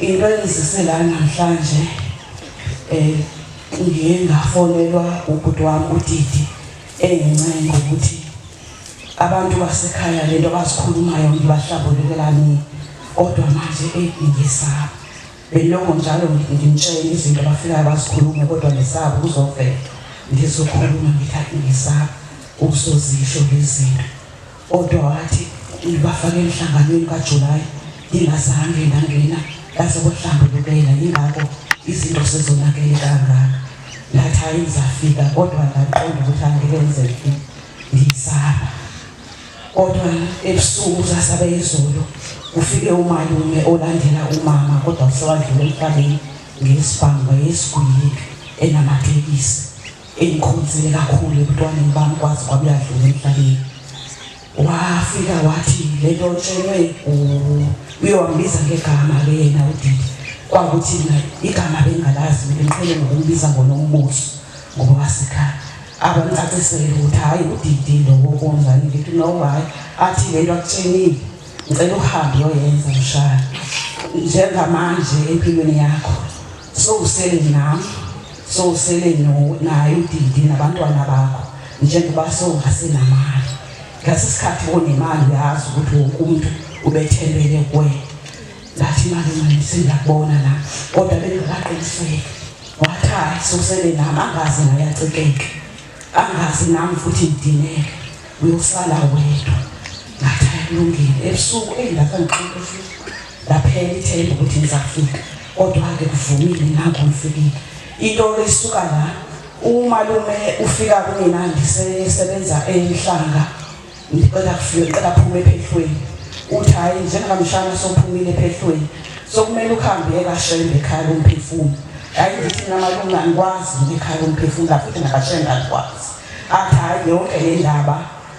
into engizise la namhlanje um ngiye ngafonelwa ubhuti wami udidi engincenge ukuthi abantu basekhaya le nto abazikhulumayo ngibahlabulekela nini kodwa manje eyi ngisaba beloko njalo ngimtshela izinto abafikayo bazikhulume kodwa ngisaba ukuzovela ngizokhuluma ngithi ngisaba ukusozisho lezinto Kodwa wathi ngibafake emhlanganweni kaJulayi ngingazange ngangena ngaze kohlambulukela yingakho izinto sezonakele kangaka. Ngathi hhayi ngizafika kodwa ngaqonda ukuthi angeke ngizefika ngiyisaba. Kodwa ebusuku sasabe izolo kufike umalume olandela umama kodwa usewadlula emhlabeni ngesibhamu wayesigwili enamatekisi. engikhonzile kakhulu ebuntwaneni bami kwazi kwabuyadlula emhlabeni wafika wathi le nto otshelwe uyowangibiza ngegama ke yena udidi kwakuthi mina igama bengingalazi mina ngiqhele ngokumbiza ngonombuso ngoba wasekhaya abangicacisele ukuthi hhayi udidi lowo konjani ngithi nowayi athi le nto akutshenile ngicela uhambe uyoyenza mshana njengamanje empilweni yakho Sowusele nami, sowusele no- naye udidi nabantwana bakho njengoba sowungasenamali. Ngase sikhathi onemali uyazi ukuthi wonke umuntu ubethembele kuwena. Ngathi malume singakubona la kodwa bengakaqiniseki. Wathi hayi sowusele nami angazi ngayacikeke. Angazi nami futhi ngidineke. Uyosala wedwa. Ngathi akulungile ebusuku eyi lapha ngiqinile futhi. Laphela ithemba ukuthi ngizafika kodwa-ke kuvumile nangu ngifikile. Into isuka la umalume ufika kumina ngisebenza enhlanga ngicela kufike ngicela kuphume ephehlweni uthi hhayi njengamshana sophumile ephehlweni sokumele ukuhambe ekashembe ekhaya lomphefumulo hhayi ngithi namalume angikwazi ngikhaya lomphefumulo futhi nakashembe angikwazi athi hhayi yonke le ndaba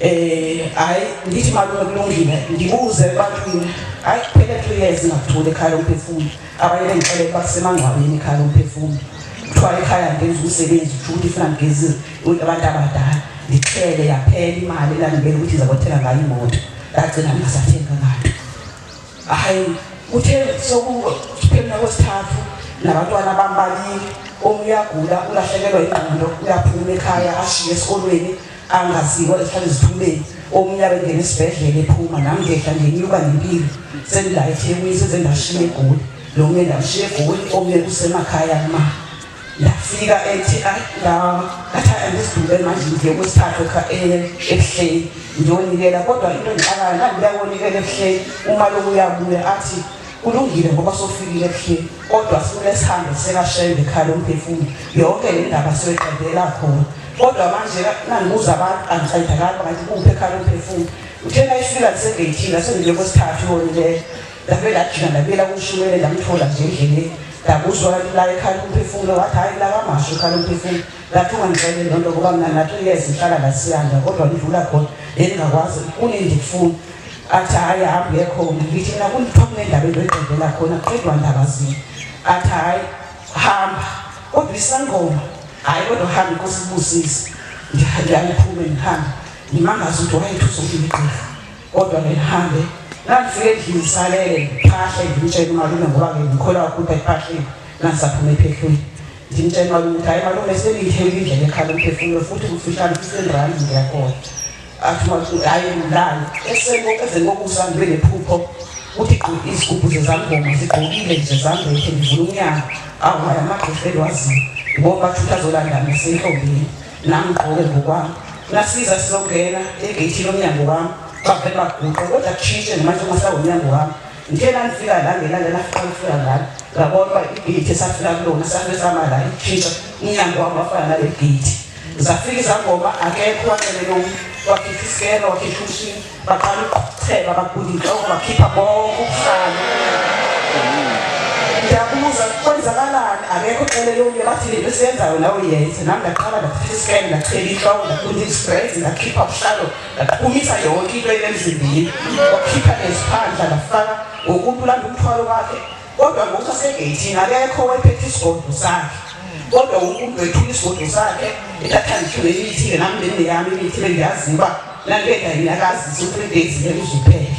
Eh hayi ngithi malume kulungile ngibuze ebantwini hayi kuphele two years ngakuthula ekhaya lomphefumlo abanye bengixele ukuba kusemangcwabeni ekhaya lomphefumlo kuthiwa ekhaya ngenza umsebenzi kusho ukuthi ifuna ngigezi abantu abadala ngixele yaphela imali elangibela ukuthi ngizakothenga ngayo imoto ngagcina ngingasathenga ngayo hayi kuthe sokuphelina kwesithathu nabantwana bambalile omunye uyagula ulahlekelwa ingqondo uyaphuma ekhaya ashiye esikolweni angasiko ehlala ezithumeni omnyaka engena esibhedlela ephuma nami ngehla ngenyuka nempilo sengila ethekwini senze ndashiya egoli lo mnye ndamshiya egoli omnye kusemakhaya ma ndafika ethi ngathi andisidube manje ngiye kwesithathu ebuhleni ngiyonikela kodwa into engixakayo ngandiyakonikela ebuhleni uma lokuyabuya athi Kulungile ngoba sofikile ebuhleni kodwa sifune sihambe sekashayile ekhaya lomphefumulo yonke le ndaba siyoyiqedela khona kodwa manje nangibuza abantu angisayidakali ngathi kuphi ekhaya lomphefumulo uthe nayifika lisegeyithini asendile kwesithathu yonileyo labe lajika labela kushumele ndamthola nje endleleni ndakuzwa la ekhaya lomphefumulo wathi hhayi lakamasho ekhaya lomphefumulo Ngathi ungangixeleli loo nto ngoba mna ngathi uyeza ihlala la siyanda kodwa ndidlula khona bendingakwazi kunendifuna athi hayi hamba uye khona ndithi mna kundithiwa kunendaba endoyigqibela khona kuqedwa ndaba zini athi hayi hamba kodwa isangoma hayi kodwa hambe inkosi ibusise ndiyayiphume ndihambe ndimangaze ukuthi wayethusa umgqigqi kodwa ngihambe ngangifike endlini ngisalele ngiphahle ngimtshele umalume ngoba-ke ngikholwa ukuthi ekuphahleni nangisaphuma ephehlweni Ngimtshela ukuthi hayi malume sengiyitheli indlela ekhala umphefumulo futhi kufishane kusendrani ngiyakhona. Athi wathi hayi ngilani eseko ezeni kokusa ngibe nephupho ukuthi gqoke izigubhu zezangoma zigqokile nje zambethe ngivula umnyango awu hayi amagqofeli waziyo ngoba futhi azolanda ngisentombini nami ngigqoke ngokwami. Ngasiza sizongena egeyithini lomnyango wami bavele baguqe kodwa kushintshe nje manje uma sawumnyango wami. Ngithe nalifika la ngelanga lafika lifika ngalo ngabona uba igeyithi esafika kulona safe sama la ikhishwa umnyango wami wafana nale geyithi zafika izangoma akekho wacelele omunye wakhipha isikelo wakhipha umshini baqala ukuqhuthela baguda inhloko bakhipha konke ubuhlalo ndiyabuza kwenzakalani akekho ucelele omunye bathi le nto esiyenzayo nawe yenze nami ndaqala ndakhipha isikelo ndachela inhloko ndaguda izibrezi ndakhipha ubuhlalo Ngaqhumisa yonke into enemzimbili, wakhipha neziphandla ngafaka ngokumuntu ulanda umthwalo wakhe, kodwa ngokuthi asegeyithini akekho wayephethe isigodlo sakhe kodwa wonke umuntu wethula isigodlo sakhe ethatha ngihluke imithi-ke nami nemine yami imithi bengiyazi uba nalibeka yinakazisa ukuthi days ngeke uzuphele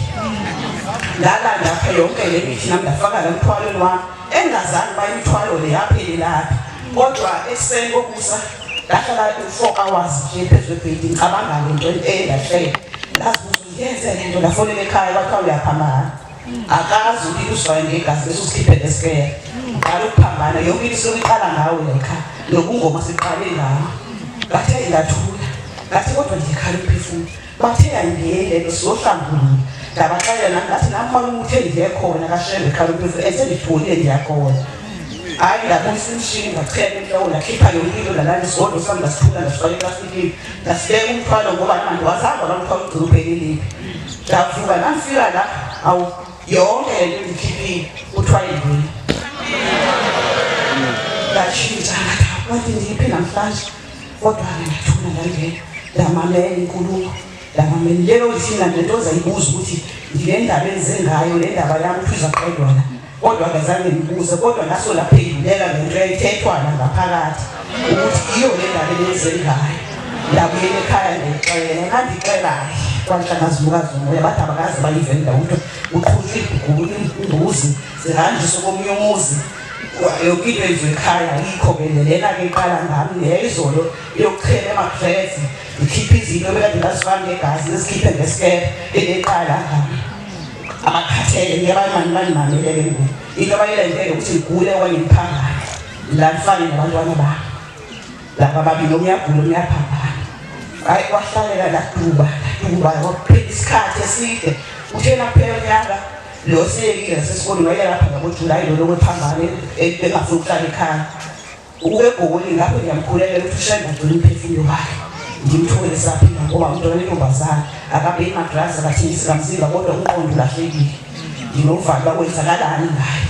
ngalanda apha yonke le mithi nami ndafaka la mthwalweni wami engazange bayimthwalo le yaphelelaphi kodwa ekuseni kokusa ngahlala u-four hours nje phezu kwebhedi ngicabanga le nto endahlele ngazi ukuthi ngiyenze le nto ngafonela ekhaya kwathiwa uyaphambana akazi ulile uswayo ngegazi bese usikhiphe lesikeya uqala ukuphambana yonke into sokuqala ngawo lekha nokungoma siqale ngawo ngathe ngathula ngathi kodwa nje khala umphefumulo Bathe ayingeni lento siyohlangula. Ngabaxelela nami ngathi nakhona umuthi engiye khona kashembe qala ukuthi esengitholile ngiyakona. Hayi ngabuyisa imishini ngachela inhloko nakhipha yonke into nalana isigodlo sami ngasithula ngasifaka eplastikini ngasibeka umthwalo ngoba namanje wazangwa la mthwalo ugcina uphelelile. Ngavuka ngangifika la awu yonke le nto engikhiphile kuthiwa yini. Ngashintsha ngathi wathi ngiphi namhlanje. Kodwa-ke ngathula ngangena ndamamela inkulumo ndamamela lelo lifina lento ozayibuza ukuthi ngile ndaba enze ngayo le ndaba yami ukuthi uzaqedwa la kodwa ngazange ngibuze kodwa ngaso laphendulela le nto yayithethwana ngaphakathi ukuthi iyo le ndaba elenze ngayo ndabuyela ekhaya ndixele ngandixelahle kwanhlangazumukazi umoya bathi abakazi bayivenda ukuthi uqhutshwa ibhuguku imbuzi zihanjiswe komunye umuzi yonke into yenziwe ekhaya yikho ke lena ke iqala ngami ngeyizolo yokuchela emakuvezi ngikhiphe izinto bekade ngazifani ngegazi ngizikhiphe ngesikele eneqala ngami amakhathele ngiyabalimani balimameleke ngoku into abayilendele ukuthi ngigule okanye ngiphambane la ngifane nabantwana bami laba babili omunye agule omunye aphambane hhayi kwahlalela laduba laduba kwakuphela isikhathi eside uthena kuphela unyaka Lo seki nasesikoleni wayelapha ngaboJulayi lona okwephambane engafuni ukuhlala ekhaya. Ukube egoli lapho ngiyamkhulela ukuthi ushenda ngcono umphefumulo wakhe. Ngimthole saphila ngoba umntwana wentombazane akabheki madrazi akathengisi kamzimba kodwa umqondo ulahlekile. Nginovalo bakwenzakalani ngayo.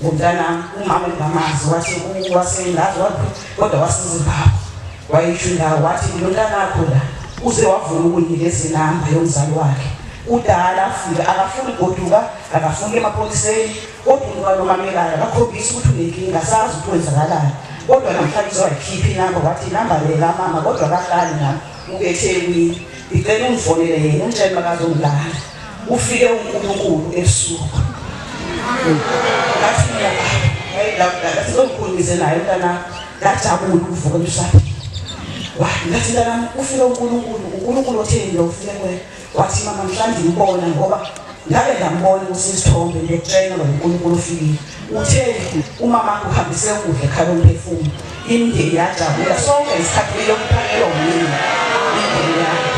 Ngumntanami umama engingamazi wathi wasengazi waphi kodwa wasezimbabwe wayisho indawo wathi nginontanakho la uze wavuma ukunginikeza inamba yomzali wakhe udala afike akafuni goduka akafuni emapoliseni kodwa umuntu walomamelayo akakhombisi ukuthi unenkinga sazi ukuthi wenzakalani kodwa namhlanje uzowayikhipha inamba wathi inamba le kamama kodwa kahlali nami ubethekwini ngicela ungifonele yena ungitshele makazongilanda ufike uNkulunkulu ebusuku ngathi mina ngathi ngomkhulise naye mntana ngajabula ukuvuka emshado ngathi mntanami ufike uNkulunkulu uNkulunkulu otheni lo ufike kuwe wathi mama mhlawumbe ngibona ngoba ngabe ngambona kusisithombe ngiyokutshela ngoba uNkulunkulu ufikile Uthe umama uhambise ukudla ekhaya umphefumlo, imindeni yajabula sonke isikhathi kumele ukuphakelwa umlimi imindeni yakhe.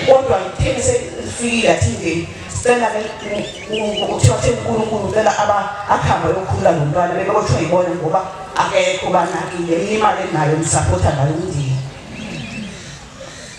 Kodwa kutheni selifikile athi imndeni sicela kuthiwa theni uNkulunkulu ucela aba akuhambe ayokhulula nomntwana bebekothiwa yibona ngoba akekho banakile imali enayo ngisapotha ngayo umndeni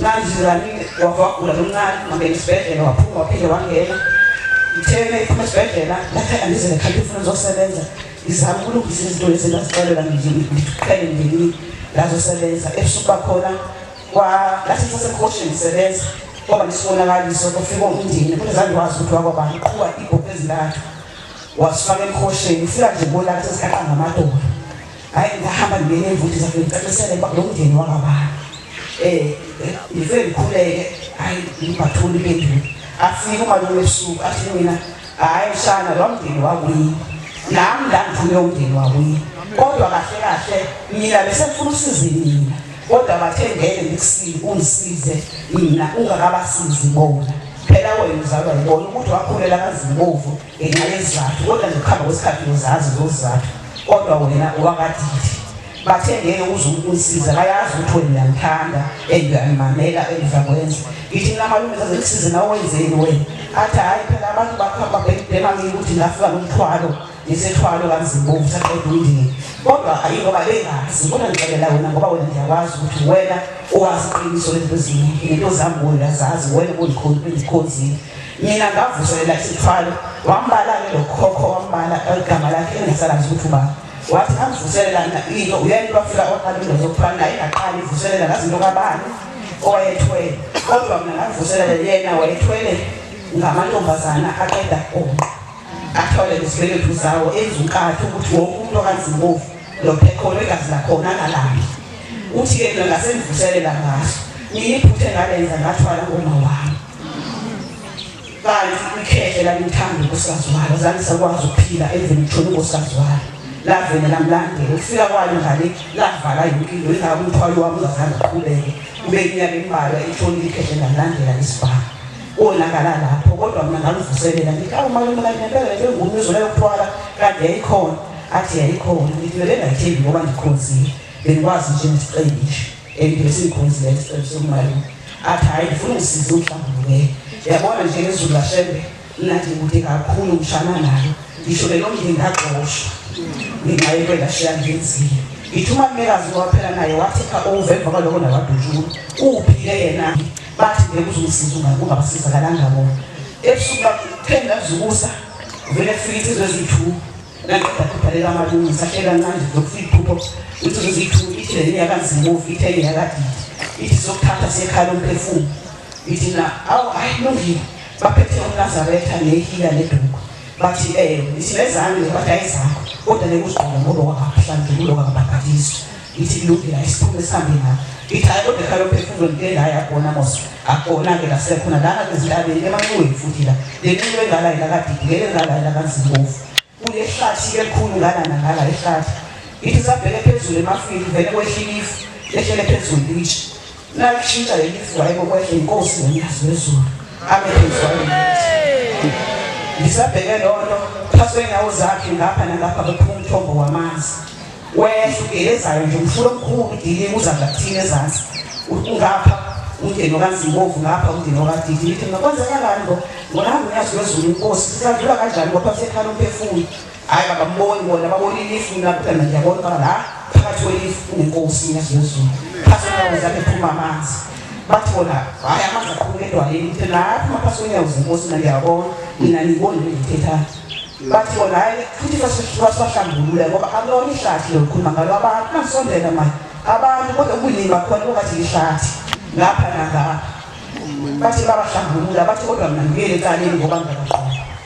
Nganjizani wavagula lomncane ngangena esibhedlela waphuma waphinde wangena ngitheme iphuma esibhedlela laphe andize nekhaliphi ufuna zosebenza ngizama ukulungisa izinto lezi ngazixelela ngiqhele ndini ngazosebenza ebusuku bakhona lathi sasemkhoshini ngisebenza kwaba nesibonakaliso kufika umndeni kunezange wazi ukuthi wakwabani qhuba ibhokhu ezintathu wasifaka emkhosheni ufika nje bolathi sikaqa ngamadolo Hhayi ngahamba ngingena emvuthi zakhe ngicacisele ukuba lo mndeni wakabani um ngifike ngikhuleke hhayi ngibatholi impendulo afike umalume ebusuku athi mina hhayi mshana lo mndeni wakuyini nami la ngifune umndeni wakuyini kodwa kahle kahle mina besefuna usize mina kodwa bathe ngeke ngikusize ungisize mina ungakabasizi bona phela wena uzalwa yibona ukuthi wakhulela kazibovu ngenxa yezizathu kodwa nje ukuhamba kwesikhathi uzazi zozizathu kodwa wena wakadidi bathe ngeke uze ukunisiza bayazi ukuthi wena uyangithanda and uyangimamela engizakwenza ngithi mina malume zaze ngisize nawe wenzeni wena athi hhayi phela abantu bakhamba bebhema ngike ukuthi ngafika nomthwalo ngisethwalo kanzibovu saqeda umndeni kodwa ayi ngoba bengazi kodwa ngixelela wena ngoba wena ngiyakwazi ukuthi wena owazi iqiniso lento zini into zami wena zazi wena ondikhonzile Mina ngavuselela isithwalo wambala-ke lo khokho wambala igama lakhe engasalazi ukuthi ubani wathi angivuselela mina into uyena wafika oqalile zokuthwala naye ngaqala ivuselela ngazi into kabani owayethwele kodwa mina ngavuselela yena wayethwele ngamantombazana aqeda konqa athole lesibelethu zawo enza unkatha ukuthi wonke umuntu okanzimbovu lophekhono igazi lakhona angalambi uthi-ke mina ngasengivuselela ngaso ngiyiphuthe ngalenza ngathwala ngomawami kanti ikhehle lalithanda inkosikazi walo zange sakwazi ukuphila emveni kuthola inkosikazi walo lavele lamlandela ukufika kwalo ngale lavala yonke into ingaka umthwalo wami ungazange uqhubeke kube iminyaka embalwa ithonile ikhehle lalandela isibhamu konakala lapho kodwa mina ngaluvuselela ngithi awu malume kanti ngempela le nto engumi izolo yokuthwala kanti yayikhona athi yayikhona ngithi bebengayithembi ngoba ndikhonzile bengikwazi nje ngisiqelishe Engivese inkunzi le sicelo somali athi hayi ngifuna ngisize uhlambuluke yabona nje ngezulu lashembe mnandi kude kakhulu ngishana nayo ngisho lelo mndeni ngagxoshwa ngenxa yento engashiya ngenzile ngithi uma mmekazi waphela naye wathi kha ove emva kwaloko nawadutshulu uphile yena bathi ngeke uzongisiza ungabasizakalanga bona ebusuku bakutheni ngazukusa vele fika insizwa eziyi-two ithi sokuthatha sekhala umphefumulo ithi na awu hayi lungile baphethe umnazaretha nehila neduku bathi um ithi nezange bathi ayizakho kodwa nekuzigqoka ngoba wakahlangululo kakabhakadiswa ngithi ngilungile ayisiphume sihambe nawo ngithi hayi kodwa ekhaya lophefumulo ngike ngaya khona mos akukona-ke la siyakhona lana ezintabeni emanxiweni futhi la le nxiwe engala ilakadidi ngeke engala ilakanzimbovu kuye ehlathi elikhulu ngalana ngala ehlathi ngithi sabheke phezulu emafini vele kwehlilifu lehlele phezulu lithi Lakushintsha leli sidwayi kokwehla inkosi nomnikazi wezulu. Amephezwayo. Ngisabheke lonto phansi kwenyawo zakhe ngapha nangapha bephuma umthombo wamanzi. Wehla ugelezayo nje umfula omkhulu udilika uza ngakuthini ezansi. Ungapha umndeni okaNzimbovu ngapha umndeni okaDidi. Ngithi ngakwenzeka kanti ngo ngona ngiyazi wezulu inkosi. Sisandlula kanjani kodwa sekhala umphefumulo. Hayi bakamboni bona babona ilifu mina kuphela ngiyabona baba la phakathi kwelifu kunenkosi ngiyazozulu. Phakathi kwenyawo zakhe phuma amanzi. Bathi bona hayi amanzi aqhubeka edwaleni kuthi lapho maphakathi kwenyawo zenkosi mina ngiyabona mina ngiboni le ngithethayo. Bathi bona hayi futhi basibahlambulule ngoba akulona ihlathi lokukhuluma ngalo abantu bangisondela manje abantu kodwa ubuningi bakhona kungathi lihlathi lapha nangapha bathi babahlambulula bathi kodwa mina ngibuyele ekaleni ngoba ngiyaqoqa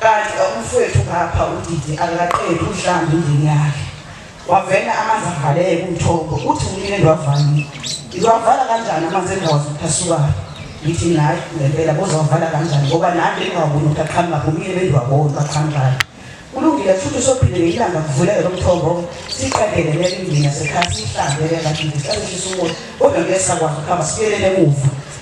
Kanti umfwethu ngapha udidi akaqedi uhlamba indini yakhe wavele amanzi avaleke kumthombo uthi umile ndwavalile ngiwavala kanjani amanzi endawo zokuthasukayo ngithi nayi ngempela bozawavala kanjani ngoba nami engingawaboni ukuthi aqhamuka kumile bendiwaboni baqhamukayo kulungile futhi usophinde ngeyilanga kuvuleke lo mthombo siqedele leli ndini yasekhaya siyihlanzele lakini sisazishisa umoya kodwa ngeke sakwazi ukuhamba sibuyelele emuva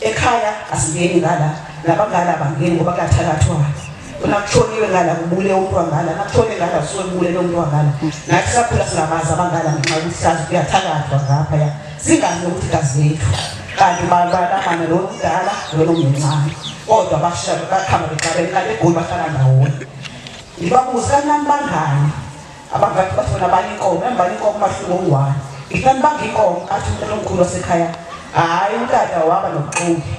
ekhaya asingeni ngala nabangala abangeni ngoba kuyathakathwa uma kushoniwe ngala kubule umuntu wangala nakushone ngala kusuke kubule lo muntu wangala nathi sakhula singabazi abangala ngenxa yokuthi sazi kuyathakathwa ngapha ya singazi nokuthi gazi lethu kanti balamana lo mdala lona omncane kodwa bashaba bakhamba bexabene kanti egoli bahlala ndawonye ngibabuza kanani bangani abangaki bathi bona bani inkomo embani inkomo umahluko unguwani ihlani banga inkomo athi umntana omkhulu wasekhaya hhayi umtata waba nobuxoki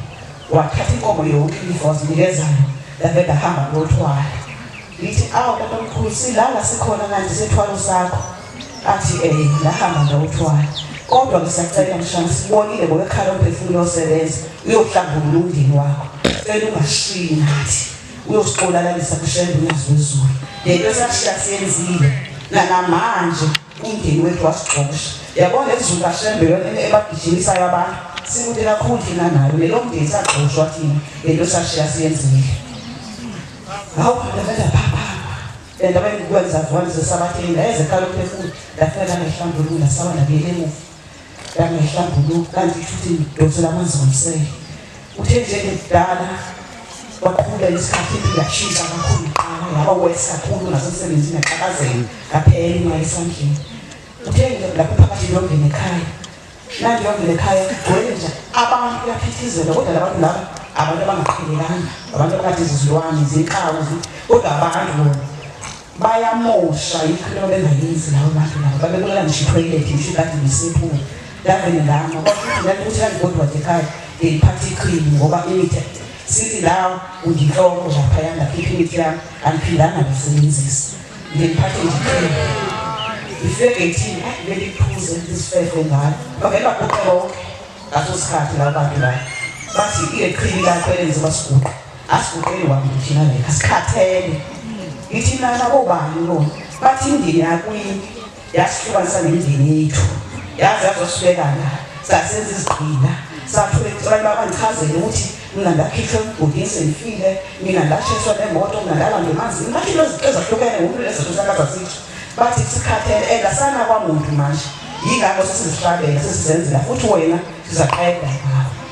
wathatha inkomo yonke ilifa wazinikezana lave ndahamba lothwala ngithi awu tata omkhulu silala sikhona kanti sethwalo sakho athi um eh, ndahamba ndawuthwala kodwa ngisacela mshana sibonile ngokekhala umphefumulo osebenza uyohlambulula umndeni wakho cela ungashiyi nathi uyosixolalalisa kushembe unyazwi wezulu lento esashiya siyenzile nanamanje umndeni wethu wasigxosha yabona ezulu kashembe yona ebagijimisayo abantu sikude kakhulu thina nayo lelo mndeni sagxoshwa thina lento esashiya siyenzile hawu ndaveza phapha endaba engikwenza vona zesabatheni ndayezeqala ukuphefumula ndafika ngehlambulula sawa ndabuyele emuva ngangihlambuluka kanti futhi ngidonsela amanzi ngomsele uthe nje ngidala waqhubeka isikhathi ngashintsha kakhulu iqala ngaba wes kakhulu nasemsebenzini ngaqhakazela ngaphela imali esandleni uthe lapho phakathi ngiyongena ekhaya nangiyongena ekhaya kugcwele nje abantu kuyaphithizela kodwa labantu laba abantu abangaqhelekanga abantu abakade zizilwane zinkawu kodwa abantu bona bayamosha yikho into bengayenzi lawo bantu labo babebona ngisho itoilet ngisho kade ngisephula ndavele ngama kwakuthi ndalikuthi andikodwa nje ekhaya ngiliphatha iqhili ngoba imithi sithi lawo undihloko laphaya ngakhipha imithi yami andiphindanga ngisebenzisa ngiliphathe nje iqhili ngifike ngithini ayi beliphuze lisifefo ngalo bavele baguqe bonke ngaso sikhathi labo bantu labo bathi iqhili lakho elenze basiguqe Asiguqeli wami thina le asikhathele. Ngithi nana kobani lo? Bathi indini yakuyini? Yasihlukanisa nemindeni yethu. Yaze yazosulekana. Sasenza izigqila. Sathule abantu babangichazele ukuthi mina ndakhishwa emgodini sengifile, mina ndashiswa nemoto, mina ndalandwa emanzini. Bathi into ezahlukene ngomuntu lezinto sakaza sithi. Bathi sikhathele and asana kwamuntu manje. Yingakho sesizihlabela sesizenzela futhi wena sizaqeda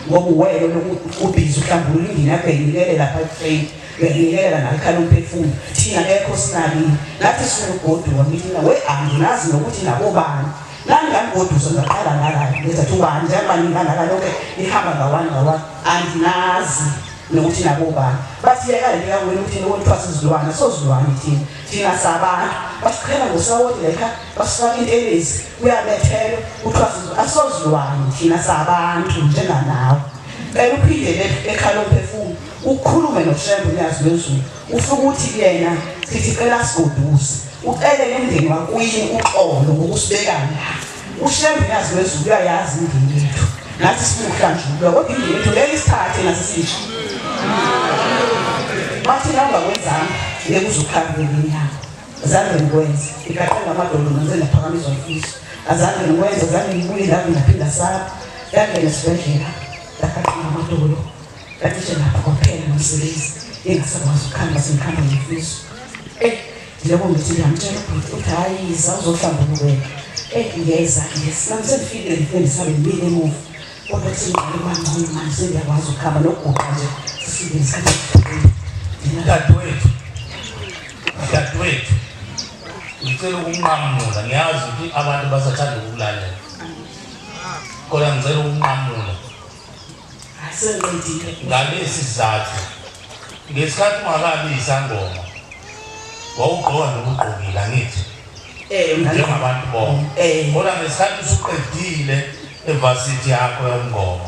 ngoba uwele lokuthi ubhizi uhlamba ulindile abhekilele lapha etrain bengiyela ngakhala umphefumulo thina ekho sinakile ngathi siwugoduka mina we anginazi nokuthi nabobani ngangangoduso ngaqala ngakala ngenza thi ubani njengoba ngingangaka lonke ihamba ngawani ngawani anginazi nokuthi nabobani bathi yeka lento yakwenu ukuthi nokuthiwa sizilwane sozilwane thina thina sabantu basiqhela ngosawoti layikhaya Basifaka intelezi kuyabethelwa kuthiwa sizwe asozilwane thina sabantu njenganawe. Cela uphinde le- ekhala umphefumulo ukhulume noShembe uNyazi lwezulu ufike ukuthi kuyena sithi cela sigoduse ucelele umndeni wakuyini uxolo ngokusibeka la. UShembe uNyazi lwezulu uyayazi imndeni yethu nathi sifuna ukuhlanjululwa kodwa imndeni yethu ngeke isithathe nathi sisho. Bathi nangakwenza ngeke uzukhambele inyanga. Azange ngikwenze. Ngigaqe ngamadolo nase ngaphakamisa umfiso. Azange ngikwenze, azange ngibuye la ngaphinda saba. Ngangena esibhedlela. Ngaqaqe ngamadolo. Kanti nje lapho kwaphela nomsebenzi. Engasakwazi ukukhamba sengikhamba ngefiso. Eh, njengoba ngithi ngiyamtshela ubhuti ukuthi hhayi yiza uzohlamba ububeka. Eh, ngiyeza, ngiyeza. Nami sengifikile ngifike ngisabe ngibile emuva. Kodwa singqale mangcono manje sengiyakwazi ukukhamba nokuguqa nje. Sifike ngesikhathi esiphumile. Dadewethu. Dadewethu ngicela ukunqamula ngiyazi ukuthi abantu basathanda ukulalela kodwa ngicela ukunqamula asenqedile ngalesi sizathu ngesikhathi ungakabi isangoma wawugqoka nokugqokile angithi eh njengabantu bonke eh kodwa ngesikhathi usuqedile evasithi yakho yomngoma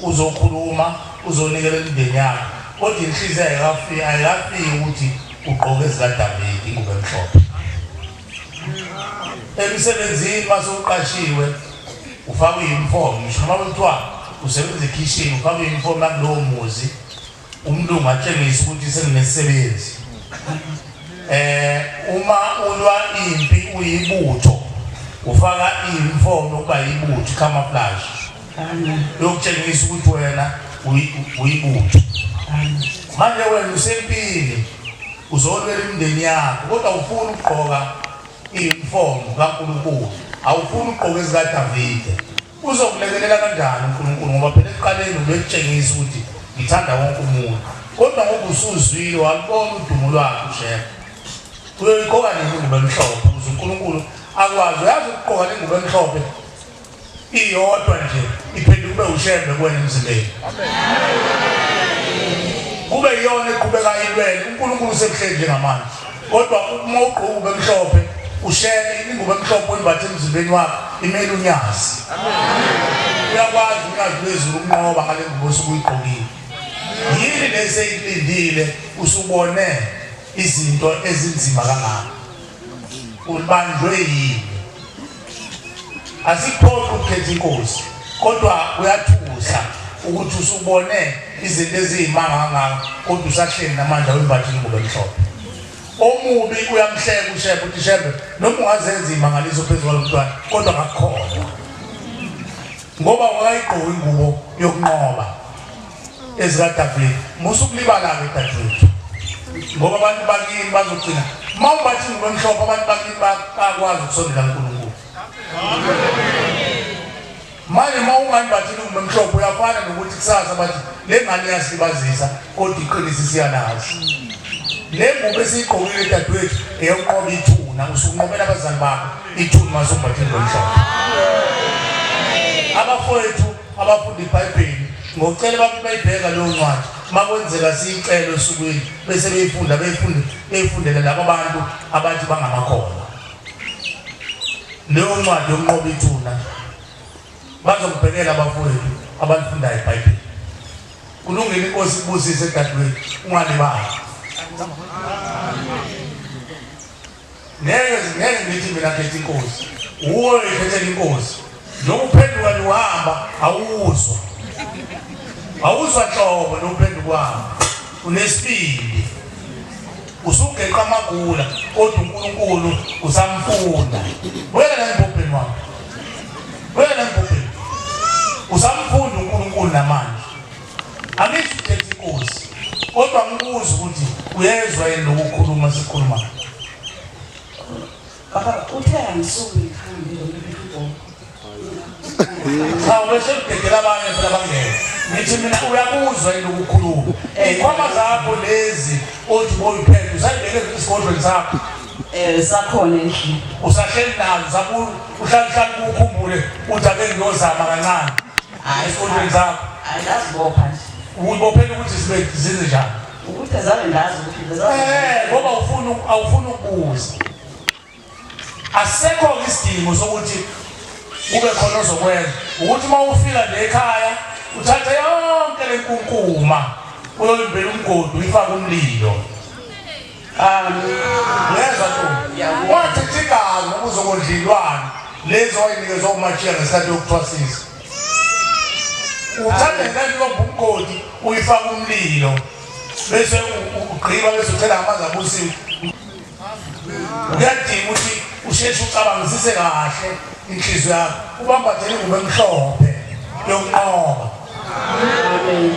Uzokhuluma, uzonikela imindeni yakho, kodwa inhliziyo ayikafiki, ayikafiki ukuthi ugqoke ezikaDavide ingubo emhlophe. Emsebenzini uma sewuqashiwe ufaka i-uniform, ngisho noma kuthiwa usebenza ekhishini ufaka i-uniform yakulowo muzi. Umlungu atshengisa ukuthi senginesisebenzi. Eh uma ulwa impi uyibutho ufaka imfono ukuba yibutho camouflage. Yokutshengisa ukuthi wena uyibutho. Manje wena usempini uzolwela imndeni yakho kodwa ufuna ukugqoka iyunifomu kaNkulunkulu awufuni ukugqoka ezikaDavide Uzokulekelela kanjani uNkulunkulu ngoba phela ekuqaleni ubekutshengisa ukuthi ngithanda wonke umuntu. Kodwa ngoba usuzwile walubona udumo lwakhe uShembe. Uyoyiqoka nini ingubo emhlophe ukuze uNkulunkulu akwazi uyazi ukuqoka ingubo emhlophe iyodwa nje iphinde kube uShembe kuwena emzimbeni. Kube iyona eqhubeka ilwele uNkulunkulu sekuhleli njengamanje. kodwa uma ugqoka ube mhlophe ushele ingubo emhlophe oyimbathe emzimbeni wakho imele unyazi uyakwazi unyazi lwezulu ukunqoba ngale ngubo osuke uyigqokile yini lesi eyikulindile usubone izinto ezinzima kangaka ubanjwe yini Asikuphoqi ukukhetha inkosi kodwa kuyathusa ukuthi usubone izinto eziyimanga kangaka kodwa usahleli namandla wembatha ingubo emhlophe. Omubi uyamhleka uShembe uthi Shembe noma ungazenza imangaliso phezu kwalo mntwana kodwa ngakukholwa ngoba wayigqoka ingubo yokunqoba. ezikadavide musa ukulibala-ke dadewethu ngoba abantu bakini bazogcina uma ubathi ngibemhlophe abantu bakini bakwazi ukusondela nkulunkulu manje uma ungani bathini ngibemhlophe uyafana nokuthi kusasa bathi le ngane iyasilibazisa kodwa iqinisa isiyalazi le ngubo esiyigqokile dadewethu eyokunqoba ithuna usukunqobela abazali bakho ithuna uma sumbathini ngomhlophe abafowethu abafunda ibhayibheli ngokucela abantu bayibheka leyo ncwadi makwenzeka siyicele osukwini bese beyifunda beyifunde beyifundele laba bantu abathi bangamakholwa leyo ncwadi yokunqoba ithuna bazokubhekela abafowethu abalifundayo ibhayibheli kulungile inkosi kubusise dadewethu ungalibali ngeke ngeke ngithi mina khetha inkosi uwe khethela inkosi nokuphenduka niwahamba awuzwa awuzwa nhlobo nokuphenduka uhamba unesibindi usugeqa amagula kodwa uNkulunkulu usamfunda wena lembubheni wakho wena lembubheni usamfunda uNkulunkulu namanje angithi ukhetha inkosi kodwa ngibuza ukuthi uyezwa yini lokukhuluma sikhulumayo baba uthe angisuke ngikhambe cha ubese ubhekela abanye phela bangeke ngithi mina uyakuzwa yini ukukhuluma iy'khwama zakho lezi othi boyiphethe usayibeke esigodlweni sakho um sakhona endlini usahleli nazo uhlalihlali kuwukhumbule uthi ake ngiyozama kancane Hayi esifundweni zakho. Hayi ngazibopha nje. Uyibophela ukuthi sibe zize njani? Ukuthi azale ngazi ukuthi lezaa. Eh ngoba ufuna awufuna ukubuza. Asekho isidingo sokuthi kube khona ozokwenza. Ukuthi uma ufika nje ekhaya uthathe yonke lenkunkuma uyoyimbela umgodi uyifake umlilo. Ngeza tu. Wathi thikazi ukuze kodlilwana lezi wayinikezwa uMachiya ngesikhathi yokuthwasisa. Uthanda ngani lo bumgodi uyifaka umlilo bese ugqiba bese uthela amanzi abusiwe. Uyadinga ukuthi usheshe ucabangisise kahle inhliziyo yakho ubambathele ingubo emhlophe yokunqoba. Amen.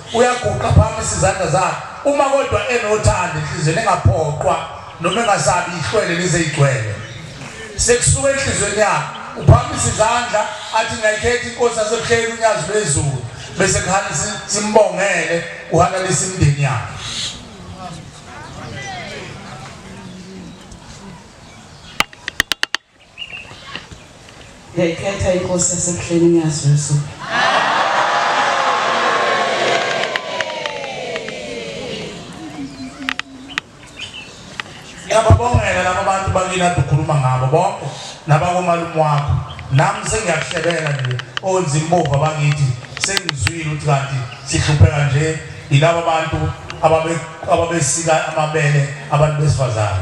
uyaguqa phamisa izandla zakhe uma kodwa enothando inhliziyo ningaphoqwa noma engasabi ihlwele lizeyigcwele sekusuka enhliziyweni yakhe uphamisa izandla athi ngiyayikhetha inkosi yasebuhleni unyazi lwezulu bese kuhana simbongele uhalalisa imndeni yakhe Ngiyayikhetha inkosi yasebuhleni ngiyazuzu. Ngiyababongela laba bantu bakini ade ukhuluma ngabo bonke nabakomalume wakho nami sengiyakuhlebela nje onzimbova bakithi sengizwile ukuthi kanti sihlupheka nje yilaba bantu ababesika amabele abantu besifazane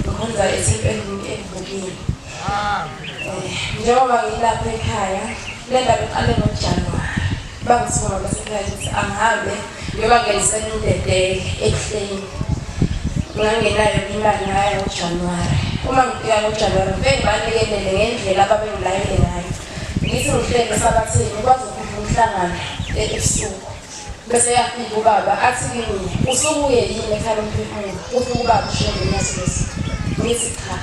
Ngikhonza esempendeni evukile. Eh, njengoba ngilapha ekhaya, le ndaba iqale ngoJanuwari. Bangisuka basekhaya ukuthi angihambe ngiyobangenisela indedele ebuhleni. Ngangenayo imali ngaya ngoJanuwari. Uma ngifika ngoJanuwari, ngifike ngibalekelele ngendlela ababengilayele ngayo. Ngithi ngihlele esabathini, kwazi ukuthi umhlangano ebusuku. Bese yafika ubaba athi kimi usubuye yini ekhaya lomphefumulo ufike ubaba ushiye ngenyasisi ngithi cha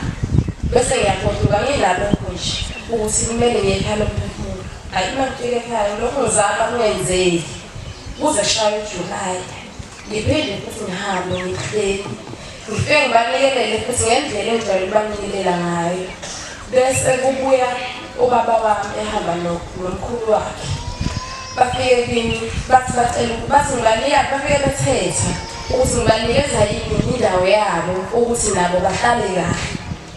bese ngiyagoduka ngilapho nje ukuthi kumele ngiye ekhaya lomphefumulo ayi uma ngifika ekhaya lokhu ngizama kungenzeki kuze shaye ujulayi ngiphinde futhi ngihambe ngihleli Ngifike ngibanikelele futhi ngendlela engijwayele ubanikelela ngayo bese kubuya ubaba wami ehamba nomkhulu wakhe bafike kimi bathi bacela bathi ngibanika bafike bethetha ukuthi ngibanikeza yini indawo yabo ukuthi nabo bahlale kahle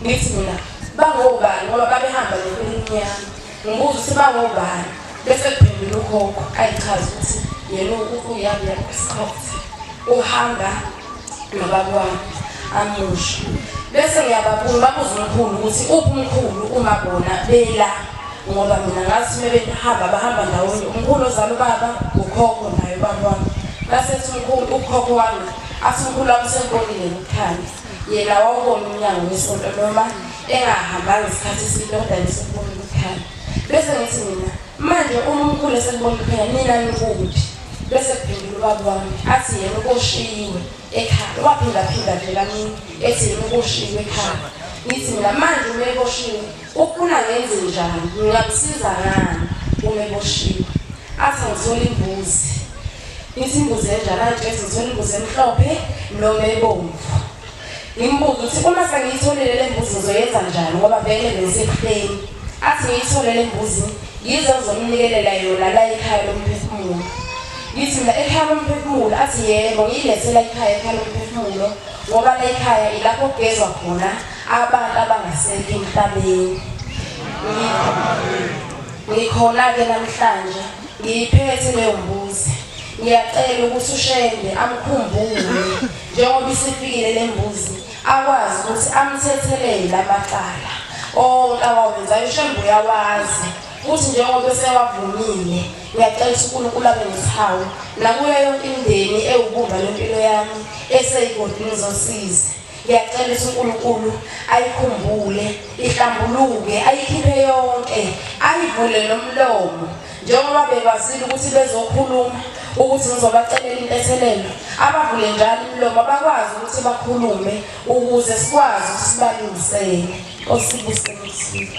ngithi mina bangobani ngoba babehamba nempilini yami Ngibuza ukuthi bangobani bese kuphendula ugogo ayichaza ukuthi yena uyami lapho isikhathi uhamba nobaba wami amusho bese ngiyababuza babuza umkhulu ukuthi uphi umkhulu uma bona bela ngoba mina ngathi uma behamba bahamba ndawonye umkhulu ozala ubaba ukhokho naye ubaba wami basethi umkhulu ukhokho wami athi umkhulu wami usenkonile nokukhanya yena wawubona umnyango wesonto noma engahambanga isikhathi eside kodwa ngisukubona ukukhanya bese ngithi mina manje uma umkhulu esekubona ukukhanya nina nikuphi bese kuphendula ubaba wami athi yena ukoshiyiwe ekhaya waphindaphinda nje kamini ethi yena ukoshiyiwe ekhaya ngithi mina manje uma eboshiwe ufuna ngenze njani ngingamsiza ngani uma eboshiwe athi ngithola imbuzi ngithi imbuzi enjani athi ngithola imbuzi emhlophe noma ebomvu ngimbuza ukuthi uma sengiyitholile le mbuzi ngizoyenza njani ngoba vele ngisehleni athi ngiyithole le mbuzi yize uzomnikelela yona la ekhaya lomphefumulo ngithi mina ekhaya lomphefumulo athi yebo ngiyilethela ekhaya ekhaya lomphefumulo ngoba la ekhaya ilapho kugezwa khona abantu abangasekho emhlabeni ngikhona-ke namhlanje ngiyiphethe leyo mbuzi ngiyacela ukuthi ushende amkhumbule njengoba isifikile le mbuzi akwazi ukuthi amthethelele la macala onke awawenzayo shembe uyawazi futhi njengoba esewavumile ngiyacela ukuthi unkulunkulu abe nesihawu nakuyo yonke imndeni ewubumba lwempilo yami eseyigodini zosizi ngiyacela ukuthi unkulunkulu ayikhumbule ihlambuluke ayikhiphe yonke ayivule nomlomo njengoba bebazile ukuthi bezokhuluma ukuthi ngizobacelela intethelelo abavule njalo imilomo bakwazi ukuthi bakhulume ukuze sikwazi ukuthi sibalungisele osibusebusile